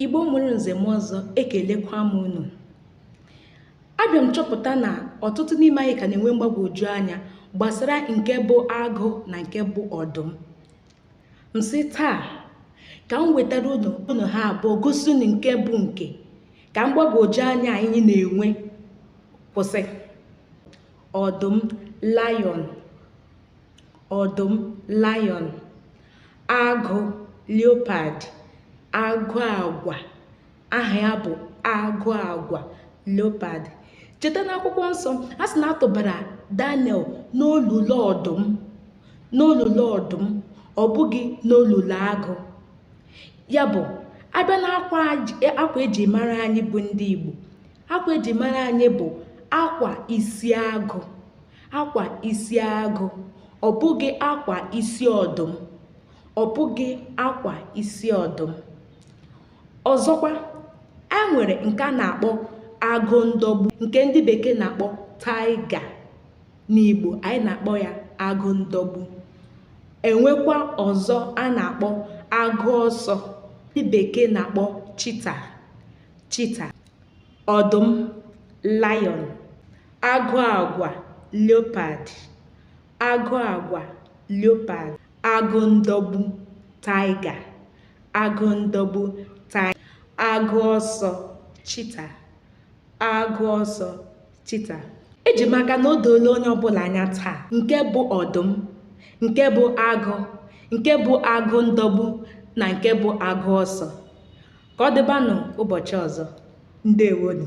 igbo mụrụ nze mụọ ọzọ ekelekwa m unu abịa m chọpụta na ọtụtụ n'ime anyị ka na-enwe mgbagwoju anya gbasara nke bụ agụ na nke bụ ọdụm m sị taa ka m wetara unu ha abụọ gosi unu nke bụ nke ka mgbagwoju anya anyị na-enwe kwụsị ọdụm lion ọdụm lion agụ leopard agụ agwa aha ya bụ agụ agwa leopard cheta n'akwụkwọ nsọ a sị na a tụbara daniel n'olulu ọdụm n'olulu ọdụm ọ bụghị n'olulu agụ ya bụ a bịa n'akwa eji mara anyị bụ ndị igbo akwa eji mara anyị bụ akwa isi agụ akwa isi agụ ọ bụghị akwa isi ọdụm ọ bụghị akwa isi ọdụm ọzọkwa e nwere nke a na-akpọ agụ ndọgbu nke ndị bekee na-akpọ tiger n'igbo anyị na-akpọ ya agụ ndọgbu e nwekwa ọzọ a na-akpọ agụ ọsọ ndị bekee na-akpọ cheetah cheetah ọdụm lion agụ agwa leopard agụ agwa leopard agụ ndọgbu tiger agụ ndọgbu tiger agụ ọsọ cheetah agụ ọsọ cheetah eji m aka na o doola onye ọbụla anya taa nke bụ ọdụm nke bụ agụ nke bụ agụ ndọgbu na nke bụ agụ ọsọ ka ọ dịbanụ ụbọchị ọzọ ndewonu